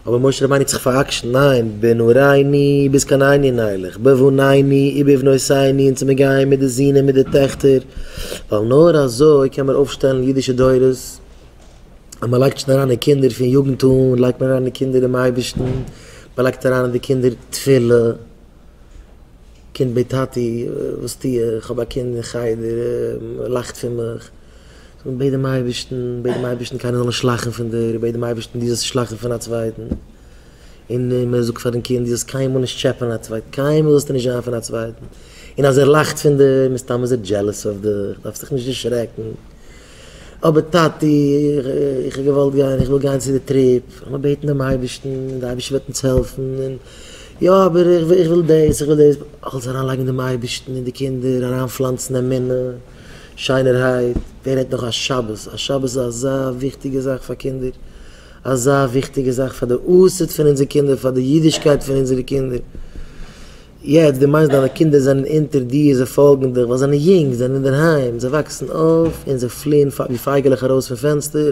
אבער משה רבינו האט זיך פאר'עקשנ'ט, ניין, בנעורייני ביז קיין עיני נלך, בבניני ובבנותיני און צו מיר גייען מיט די זוהן און מיט די טעכטער, ווייל נאר אזוי קען מען אויפשטעלן אידישע דורות, אז מען לייגט שוין אריין אין קינדער פון יוגנט אן לייגט מען אריין אין קינדער דעם אייבערשטן, מען לייגט אריין אין די קינדער תפילה, קינד בעט טאטי וואס טו איך האב א קינד אין חדר ער לאכט פון מיך, בעט דעם אייבערשטן בעט דעם אייבערשטן קיינער זאל נישט לאכן פון דיר, בעט דעם אייבערשטן דו זאלסט נישט לאכן פון א צווייטן, און מען זאגט פאר דעם קינד דו זאלסט קיינמאל נישט טשעפען א צווייטן, קיינמאל זאלסטו נישט זיין פון א צווייטן, און אז ער לאכט פון דיר מסתם איז ער דזשעלעס אויף דיך, דארפסט דיך נישט דערשרעקן, אבער טאטי איך האב געוואלט גיין איך וויל גיין צו די טריפ, לאמיר בעטן דעם אייבערשטן און די אייבערשטער וועט אונז העלפן און. יא אבער איך וויל דאס איך וויל דאס, איך וועל זיך אריינלייגן אין דעם אייבערשטן אין די קינדער, אריינפלאנצן אמונה, שיינערהייט, ווער רעדט נאך א שבת, א שבת איז אזא וויכטיגע זאך פאר קינדער, אזא וויכטיגע זאך פאר די עתיד פון אונזער קינדער, פאר די אידישקייט פון אונזערע קינדער, יעצט דו מיינסט דיינע קינדער זענען אונטער דיר, זיי פאלגן דיך ווייל זיי זענען יונג, זיי זענען אינדערהיים, זיי וואקסן אויף און זיי פליען ווי פייגעלעך ארויס פון פענסטער.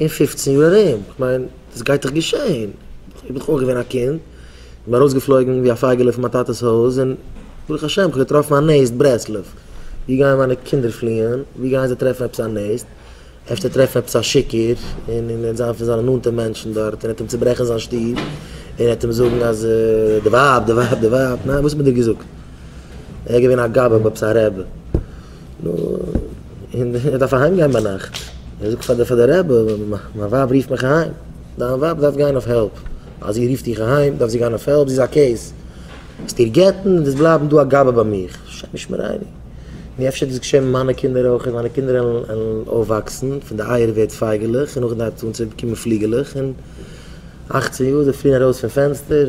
אין פֿופֿצן יאר ארום, כ'מיין דאס גייט דאך געשעהן, איך בין דאך אויך געווען א קינד, איך בין ארויסגעפלויגן ווי א פייגעלע פון מיין טאטע'ס הויז, און ברוך השם כ'האב געטראפן א נעסט, ברסלב, ווי גייען מיינע קינדער פליען, ווי גייען זיי טרעפן עפעס א נעסט, אפשר טרעפן עפעס א שיכור, און און זיין פון זיינע נאנטע מענטשן דארט, און עטעם צוברעכן זיין שטוב, און עטעם זאגן אז די ווייב, די ווייב, די ווייב, ניין וואס האט מען דיר געזאגט, ער געווען א גבאי, עפעס א רעבע. נו, און איך דארף אהיים גיין ביינאכט, איך זאג פאר די רבי, מיין ווייב רופט מיך אהיים, דיין ווייב דארף גיין אויף העלפ, אז זי רופט דיך אהיים דארף זי גיין אויף העלפ, זי איז א קעיס, וועסט איר גט'ן און וועסט בלייבן דא א גבאי ביי מיך, השם ישמרינו, נו אפשר דאס געשען מיט מיינע קינדער אויך, אז מיינע קינדער וועלן אויפוואקסן, פון די אייער ווערט פייגעלעך, און נאכדעם דארף צו קומען פליגעלעך, און אַכצן יאר זיי פליען ארויס פון פענסטער.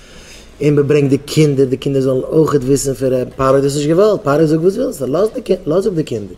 און מען ברענגט די קינדער, די קינדער זאלן אויכעט וויסן פון רעדן, פרעה האט דאס נישט געוואלט, פרעה זאגט וואס ווילסטו, לאז אפ די קינדער.